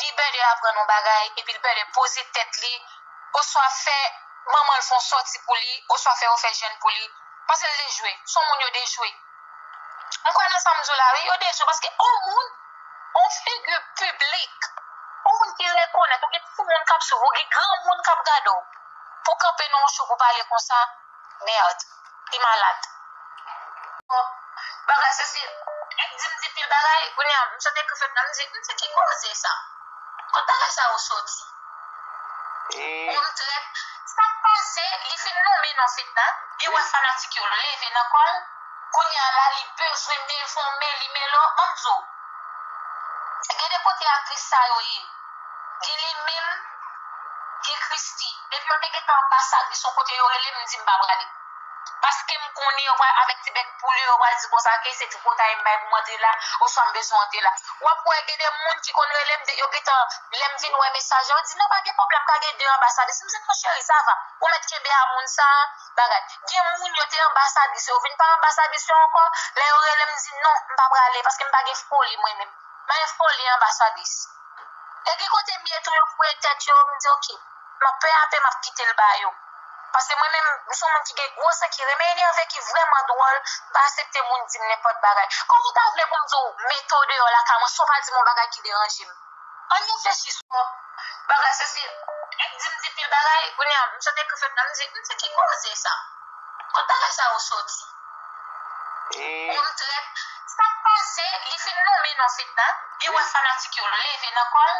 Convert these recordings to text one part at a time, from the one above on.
li pè de aprann yon bagay epi li pè de poze tèt li oswa fè manman l fè yon sòti pou li oswa fè yon fè jèn pou li paske l dejwe. Se yon moun yo dejwe. M kwè nan sa m di w la wi. Yo dejwe paske yon moun, yon figi piblik, yon moun ki rekonèt, ou gen timoun k ap suiv ou, ou gen granmoun k ap gade w pou w kanpe nan yon show pou w pale konsa. Merd. Li malad. Bon bagay sesi Li di m di pil bagay kounye a misye te ekri fèy la m di m di ki koze sa Kot bagay sa yo soti Bon m trèt Sak pase li fin lonmen non fedna Li wè fanatik yo leve nan kò l Kounye a la li bezwen devòme li Melo an m di w Gen de kote aktris sa yo ye. Gen li menm, gen Christy. Depi yo te gentan anbasad li son kote yo rele m, m di m pa prale. Paske m konnen yo pral avèk ti bèk poul yo, yo pral di konsa ke se tripotay m bay pou m antre la, oswa m bezwen antre la. W ap wè gen de moun ki konn rele m, yo gentan, lè m vin wè mesaj la, yo di non pa gen pwoblèm, ka gen de anbasadris. M di non cheri sa va, ou mèt kenbe a moun sa a, bagay. Gen moun yo te anbasadris yo, yo vin pa anbasadris yo ankò, lè yo rele m, m di non, m pa prale, paske m pa gen foli mwen menm. Nan info li anbasadris. E gen kote m ye tou yo koupe tèt yo m di ok map pè a pè map kitel ba yo paske mwen menm m son moun ki gen gwo san ki renmen enève ki vrèman dwòl m pa asepte moun dim nenpòt bagay kòman w ta vle pou m di w mete w deyò lakay mwen san w pa dim yon bagay ki deranje m ann reflechi sou yon bagay sesi e dim depil bagay kounya m sot ekri fèt la m di m di ki koze sa. Kot bagay sa yo soti. Humm trèt. Sak pase li fin nome non fedna li wè fanatik yo leve nan kòl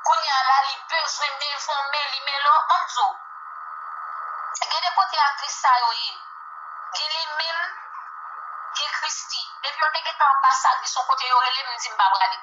kounya la li bezwen devon meli melo banm di w gen de kote aktris sa yo ye gen li menm gen christie depi yo te gentan anbasadris yon kote yo rele m m di m pa prale.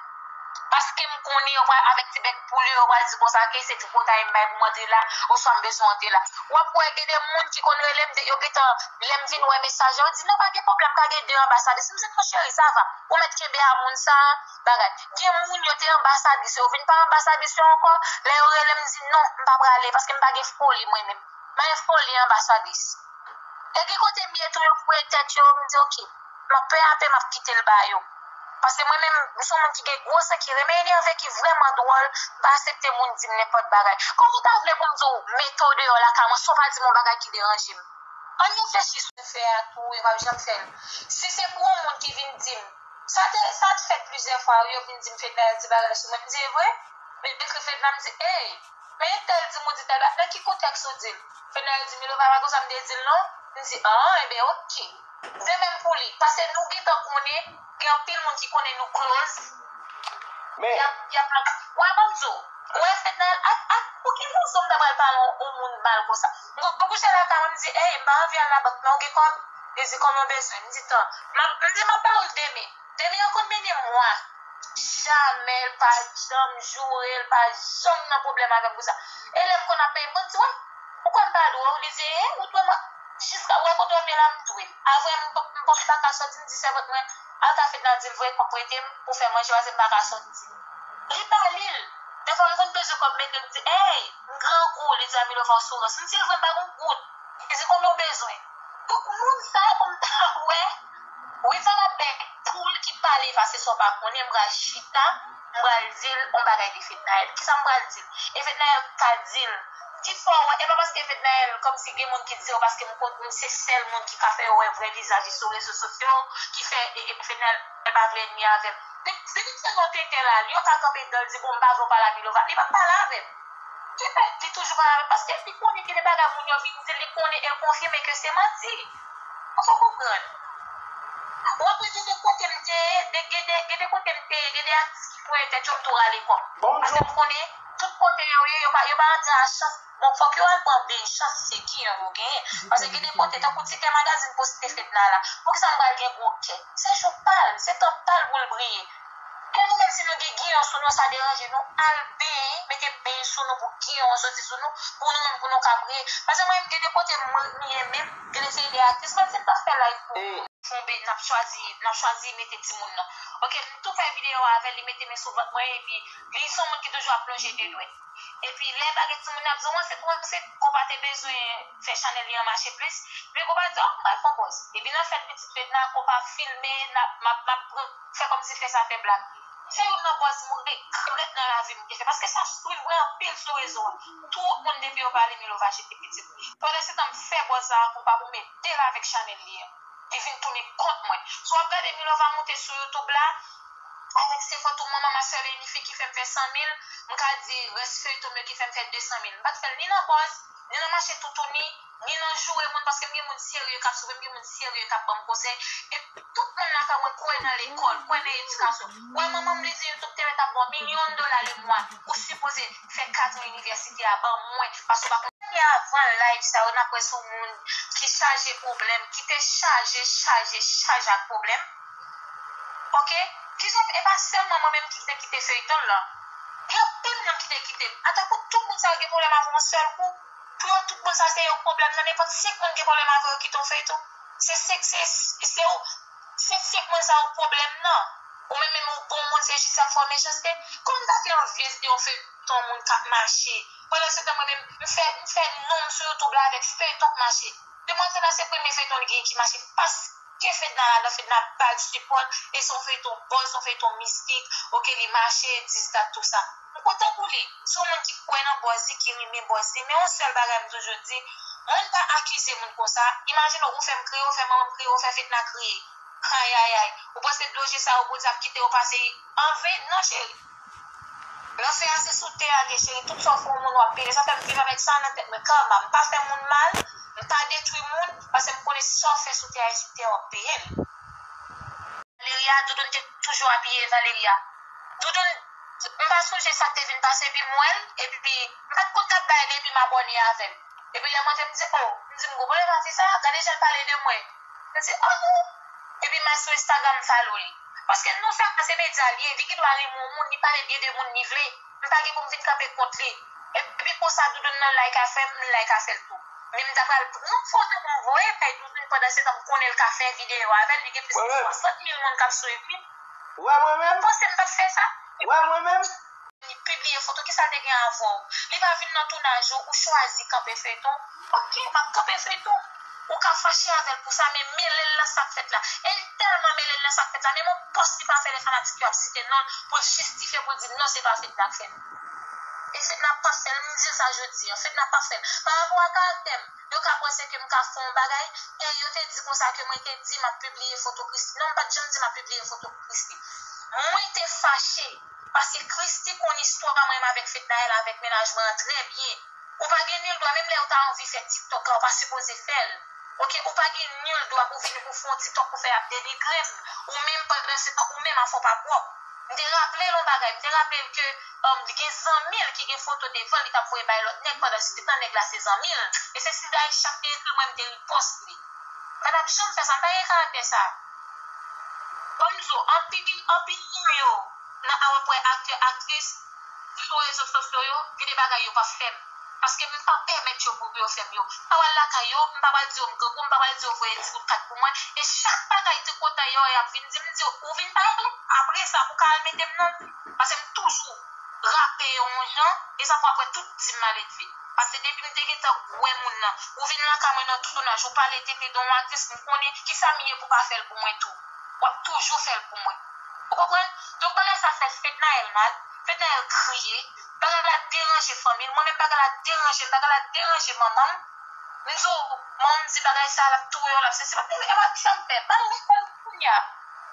Paskem konnen yo pral avèk ti bèk poul yo, yo pral di konsa ke se tripotay m bay pou m antre la, oswa m bezwen antre la. Wap wè gen de moun ki konn rele m, yo gentan, lèm fin wè mesaj la, yo di non pa gen pwoblèm, pa gen de anbasadris. M di non cheri sa va, ou mèt kenbe a moun sa a, bagay. Gen moun yo te anbasadris yo, yo vin pa anbasadris yo ankò, lè yo rele m m di non, m pa prale, paskem pa gen foli mwen menm. M pa gen foli anbasadris. E gen kote m ye tou yo voye tèt yo, m di ok. Map pè apè map kitel ba yo. Paske mwen menm m son moun ki gen gwo sè ki renmen enève ki vrèman dwòl m pa asepte moun dim nenpòt bagay kòman w ta vle pou m di w mete w deyò lakay mwen san w pa dim yon bagay ki deranje m ann reflechi sou fè a tou yo pap janm fèl si se pou yon moun ki vin dim sa te sa t fèt plizyè fwa wi yo vin dim fedna di bagay sou mwen m di evre m ekri fedna m di eey. Men entèl di m ou di tèl ba nan ki kontèks ou di l? Fenayel di Milova pa konsa m te di l non. M di an enben ok. De menm pou li. Pase nou gentan konnen gen anpil moun ki konnen nou kloz. Men. Y ap ap. Wè ban m di w. Ou wè Fenayel ak ak pou ki rezon m ta pral pale yon moun mal konsa. M konn kouche lakay mwen m di ey m pa anvi al labank non ou gen kòb? Li di kòman w bezwen? M di tan. M ap m di m ap ba w l demen. Depi yo konn mennen mwa. Jamè l pa janm joure l pa janm nan pwoblèm avè m pou sa e lè m konn ap peye m konn di w m ou kwè m pa dwe w li di e ou dwe m jiska ou wè kote w ap ye la m dwe avwe m m paka sòti m di sèvant mwen al ka Fedna di l voye kòb prete m pou fè manje pase m paka sòti li pa li l defwa m konn peze kòb mete l di ey m grangou li di a Milova w sou rans m di l vre m pa gon goud li di konbyen w bezwen donk moun sa yo pou m ta wè. Wi sa lap bèk poul ki pale pase sa w pa konnen m pral chita m pral dil on bagay de fednaelle kisa m pral dil e fednaelle ka dil ki fè w wè e pa paske fednaelle kòmsi gen moun ki di yo paske m kont m se sèl moun ki ka fè yo wè vrè vizaj li sou rezo sosyo ki fè e fednaelle pa vle ènmi avè m depi m fè yon tenten la li yo ka kanpe dan l di bon m pa vle w pale a milova li pap pale avè m ki fè li toujou pale avè m paske li konnen gen de bagay moun yo vin dil li konnen e l konfime ke se manti. Ou fè konprann. Ou apre gen de kote m te ye, gen de gen de kote m te ye, gen de atis ki foure tèt yo m tou rale kò m. Pase m konnen tout kote yo ye, yo pa yo pa rantre a chans. Bon fòk yo al pran beny chans se ki jan yo genyen. Pase gen de kote tankou ti kè magazin poste Fedna la. Poukisa m pral gen gwo kè? Se jou pa l, se tan pa l pou l briye. Ke nou menm si nou gen giyon sou nou sa deranje nou al benyen mete beny sou nou pou giyon an soti sou nou pou nou menm pou nou ka priye paske mwen menm gen de kote mwen ye menm gen de seri de atis menm si m tap fè live pou ou tonbe nap chwazi nap chwazi mete timoun nan ok m tou fè video avèl li mete men sou vant mwen epi li son moun ki toujou ap lonje de dwèt epi lè bagay timoun nan ap di w an se pou an se konpa te bezwen fè chanèl li an mache plis epi konpa di ok m pral fon pòz epi nan fèt pitit fedna konpa filme nap map map pran. Fè kòm si fè sa te blag. Se youn nan buzz mwen regrèt nan lavi mwen te fè paske sa swiv mwen anpil sou rezo a. Twop moun depi yo pale Milova jete pitit li. Pandan se tan m fè buzz sa a konpa pou m ede l avèk chanèl li a. Li vin tounen kont mwen. Si w ap gade Milova moute sou youtube la avèk se fòt ou manman ma sèl e inik fi ki fè m fè 100 mil m ka di rès feyton m yo ki fè m fè 200 mil. M pa t fè l ni nan buzz ni nan mache toutouni. ni nan joure moun paske m gen moun serye k ap swiv m, m gen moun serye k ap ban m konsèy. E tout moun nan fè wè kwè nan lekòl, kwè nan edikasyon. Wè manman m li di m tou m te mèt ap ba w milyon dola lemwa ou sipoze fè kadran inivèsite a ban mwen paske w pa konn. Depi avan live sa yo n ap wè sou moun ki chaje pwoblèm, ki te chaje, chaje, chaje ak pwoblèm. Ok, kijan, e pa sèlman mwen menm ki te kite feyton l lan. Gen anpil moun ki te kite m. Atapou tout moun sa yo gen pwoblèm avè w yon sèl kou? Pou yo tout bon sa se yon pwoblèm nan nenpòt 5 moun gen pwoblèm avè yo kite yon feyton se 5 se se ou se 5 moun sa yo pwoblèm nan ou menm menm ou bon moun se jis yap fè w mechanste kòman m ta fè anvi ede yon feyton moun kap mache pandan se tan mwen menm m fè m fè non m sou youtube la avèk feyton k mache demwazèl la se premye feyton li genyen ki mache pas. Ke fedna ladan fedna bal sipòt e son feyton bon son feyton mistik ok li mache 10 dat tou sa m kontan pou li son moun ki kwè nan bòzi ki rinmin bòzi men yon sèl bagay m toujou di moun pa akize moun konsa imajine ou fèm kriye ou fè manmanm kriye ou fè fedna kriye ayayay ou panse dlo je sa yo bondye ap kite yo pase anven non cheri. Lanfè a se sou tè a vye cheri tout sa w fè yon moun wap peye sa fèm viv avèk sa nan tèt mwen karma m pa fè moun mal m pa detwi moun pase m konnen sa w fè sou tè a e sou tè a wap peye l. Valeria Doudoune te toujou abiye Valeria Doudoune m pa sonje sak te vin pase epi m wè l epi m pat konn kap bay li epi m abòne avèl epi lè m antre m di oh m di m gou bòne pa fi sa gade jan l pale de mwen. Mwen di oh oh. Epi ma sou Instagram m follow li. Paske non sa se medya li ye, li gen dwa renmen yon moun, li pale byen de moun li vle. M pa gen pou m vin kanpe kont li. Epi konsa Doudoune nan like afè m, m like afè l tou. Men m ta pral pran yon foto pou m voye bay Doudoune pandansetan m konnen l ka fè videyo avè l, li gen plis ke 60 mil moun k ap swiv li. Wè mwen menm. Ou panse m t ap fè sa? Wè mwen menm. Li pibliye foto kisal te gen avèw. Li pa vin nan tounaj ou ou chwazi kanpe feyton ok map kanpe feyton ou ka fache avèl pou sa men melel nan sak fèt la el tèlman melel nan sak fèt la menm on pòs li pa fè lè fanatik yo ap site nonl poul jistifye poul di non se pa fedna k fèl e fedna pap fèl m dil sa jodi an fedna pap fèl pa rapò a karaktèm yo ka panse ke m ka fè on bagay e yo te di konsa ke mwen te di map pibliye foto Christie non m pat janm di map pibliye foto Christie mwen te fache. Paske Christie konn istwa m renmen avèk Fednaelle avèk mennaj mwen an trè byen ou pa gen nul dwa menm lèw ta anvi fè tiktok la ou pa sipoze fèl ok ou pa gen nul dwa pou vini pou fon tiktok pou fè ap denigrem ou menm pandan se tan ou menm a fò pa pwòp m te raplel on bagay m te raplel ke li gen zanmil ki gen foto devanl li tap voye bay lòt nèg pandan se tan nèg la se zanmil e se si Daïsha k te ekril mwen m te ripòs li m patap janm fè sa m pa gen karaktè sa. Bonjou anpil anpil nan yo nan a wap wè aktè aktris sou rezo sosyo yo gen de bagay yo pap fèm paske m pa pèmèt yo pou yo fèm yo m pa pral lakay yo m pa pral di yo m grangou m pa pral di yo voye ti kout kat pou mwen e chak bagay tripotay yo yap vin di m m di yo ou vin pale tou apresa pou ka al mete m nan paske m toujou rape yon jan e sa fè wap wè tout di m maledve. Pase depi m te gentan k wè moun nan. Ou vin lakay mwen nan tounaj ou pale tenten de yon aktris m konnen kisa m ye pou pa fè l pou mwen tou. Wap toujou fè l pou mwen. Ou konprann? Donk bagay sa fè Fednaelle mal, Fednaelle kriye, bagay la deranje fanmi l, mwen menm bagay la deranje m, bagay la deranje manman m. M di w manman m di bagay sa lap touye w lap sesi. Epa kisa m fè? M pa konn kounya.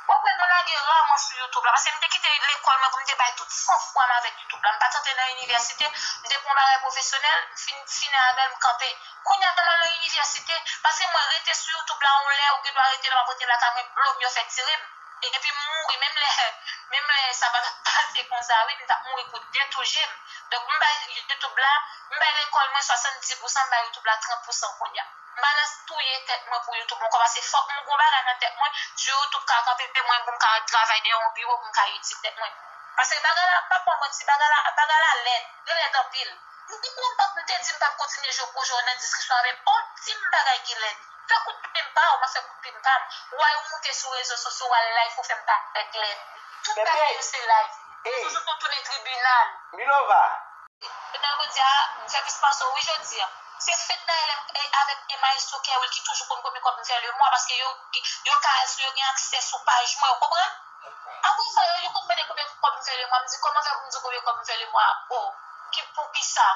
Wap wè nou lage raman sou youtube la paske m te kite lekòl mwen pou m te bay tout san fwa m avèk youtube la m pat antre nan inivèsite m te pran bagay pwofesyonèl m fin fini avè l m kanpe kounya m al nan inivèsite paske mwen rete sou youtube la yon lè ou gendwa rete lè m ap rete lakay mwen blo m yo fè tire m epi m mouri menm lè menm lè sa pa tap pase konsa wi m tap mouri pou de tou je m donk m bay youtube la m bay lekòl mwen 70 pousan m bay youtube la 30 pousan kounya. Malas touye tèt mwen pou youtube mwen komanse fòk m gon bagay nan tèt mwen jou youtube ka kanpe mwen pou m ka travay dèyè yon biwo pou m ka itil tèt mwen paske bagay la m pap ba w manti bagay la bagay la lèd li lèd anpil m te di m te di m pap kontinye jwe pwojè w nan diskisyon avè m oh di m bagay ki lèd fè kout plim m pa w map fè kout plim pa m way ou moute sou rezo sosyo w al live pou fè m parèt lèd tout bagay yo se live rezo sosyo tounen tribinal. Milova. Jovenel Godia m fè plis panse w wi jodi an. Se Fedna LM avèk e Maestro Kerwill ki toujou konn konbyen kòb m fè le mwa paske yo yo ka al sou yo gen aksè sou paj mwen ou konprann. Aprè sa yo yo konn mande konbyen kòb m fè le mwa m di kòman fè pou m di w konbyen kòb m fè le mwa oh ki poukisa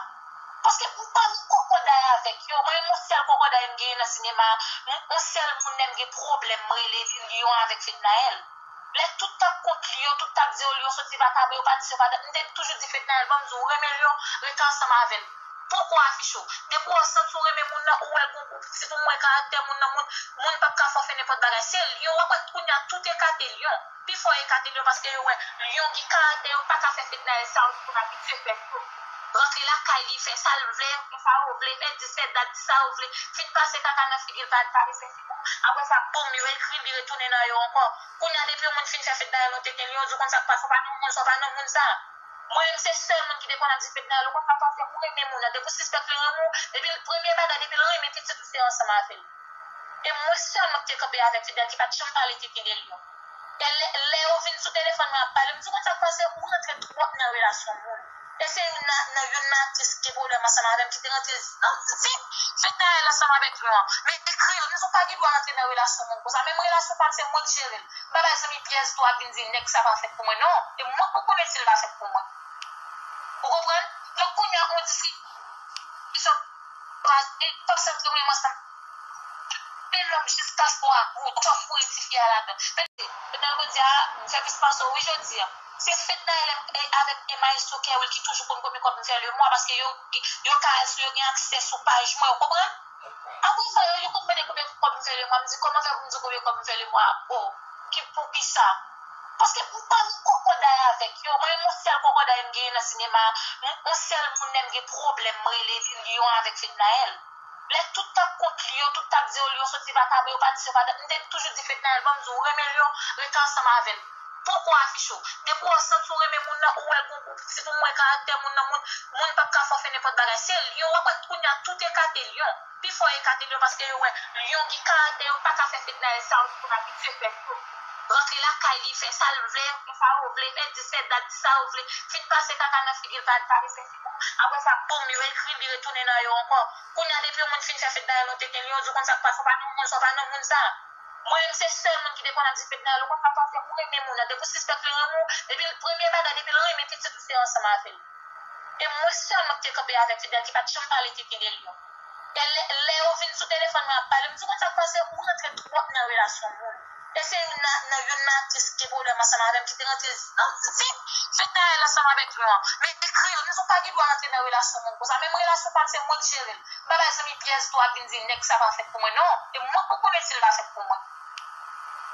paske m pa nan kòkòday avèk yo mwen menm on sèl kòkòday m genyen nan sinema a on sèl moun lè m gen pwoblèm m rele li Lion avèk Fednaelle. Lè tout tap kont Lyon, tout tap di o Lyon soti vacabon, yo pa di si yo pa dan, m te toujou di Fednaelle banm di w renmen Lyon, rete ansanm avè l. Poko afiche w. Depi w santi w renmen moun nan, ou wè l gon gou piti pou mwen karaktè moun nan moun, moun pap ka fè w fè nenpòt bagay. Se Lyon, wap wè kounya tout ekate Lyon. Pi fò yo ekate Lyon paske yo wè Lyon gen karaktè yo paka fè Fednaelle sa yo te abitye fè Lyon. Rantre lakay li, fè sa l vle, fè sa yo vle, fè di, fè dat, di sa yo vle, fin pase kaka nan figi l pa, pa refè. Apre sa boom yo ekril li retounen nan yo ankò. Kounya depi yon moun fin fè Fedna el ou te genl'yo di w konn sak pase ou pa nan moun sa ou pa nan moun sa. Mwen menm se sèl moun ki te konn ap di Fedna el ou konn sak pase ou renmen moun nan depi w sispèk li renmen w depi l premye bagay depi l renmen pitit ou se ansanm avèl. E mwen sèlman ki te kanpe avèk Fedna el ki pat janm pale tenten el yo. E lè yo vin sou telefòn mwen ap pale, m di konn sak pase ou rantre twòp nan relasyon moun. E se youn nan youn nan aktris ki gen pwoblèm ansanm avèm ki te rantre nan vit fednaelle ansanm avèk nou an. M ekri l, m di ou pa gen dwa rantre nan relasyon moun konsa, menm relasyon pam se mwen k jere l. M pa bay zanmi pyès dwa vin di nèg sa pa fèt pou mwen non, e mwen pou konnen si l pa fèt pou mwen. Ou konprann? Donk kounya on diskisyon pase, m pap santi m menm ansanm. Pe lòm jis pa fò a gou twòp pou e tifi a ladan. Pe. Fedna jodia m fè plis pase w wi jodia se fedna elèm avèk e maestro kerwill ki toujou konn konbyen kòb m fè lemwa paske yo yo ka al sou yo gen aksè sou paj mwen ou konprann apre sa yo konn mande konbyen kòb m fè lemwa m di kòman fè pou m di w konbyen kòb m fè lemwa oh ki poukisa paske m pa nan kòkòday avèk yo mwen menm on sèl kòkòday m genyen nan sinema on sèl moun lèm gen pwoblèm m rele li lion avèk fednaelle. Lè tout tap kont Lyon, tout tap di o Lyon soti vakabe, yo pa di si yo pa dan, m te toujou di Fednaelle banm di w renmen Lyon, rete ansanm avè l. Poko afiche w. Depi w santi w renmen moun nan, ou wè l gon gou pitit, ou mwen karaktè moun nan, moun, moun pap ka fè w fè nenpòt bagay. Se Lyon, wap wè kounya tout ekate Lyon. Pi fò ekate Lyon paske yo wè Lyon gen karaktè, yo pa ka fè Fednaelle sa yo te konn abitye fè Lyon. Rantre lakay li, fè sa l vle, fè sa yo vle, fè di, fè dat, di sa yo vle, fin pase kaka nan figi l, pa, pa, Apre sa boom yo ekri li retounen nan yo ankò. Kounya depi yon moun fin fè Fednaelle yon teken li yo di w konn sa k pase w pa non moun sa w pa non moun sa. Mwen menm se sèl moun ki te konn ap di Fednaelle ou konn sa k pase ou renmen moun nan depi w sispèk li renmen w depi l premye bagay depi l renmen pitit ou se ansanm avè l. E mwen sèlman ki te kanpe avèk Fednaelle ki pat janm pale tenten de l yo. E lè yo vin sou telefòn mwen ap pale m di w konn sa k pase ou rantre twòp nan relasyon moun. E se youn nan youn nan aktris ki gen pwoblèm ansanm avè m ki te rantre nan vin fednaelle ansanm avèk nou an. Men ekri yo, nou pa gen dwa rantre nan relasyon moun konsa. Menm relasyon pa m se mwen ki jere l. M pa bay zanmi pyès dwa vin di nèg sa pa fèt pou mwen non. E mwen pou konnen si l pa fèt pou mwen.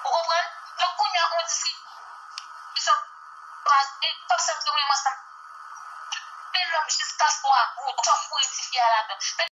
Ou konprann? Donk kounya on diskisyon pase, m p ap santi mwen ansanm avè l jiska swa ou, ou pa foure tifi a ladan.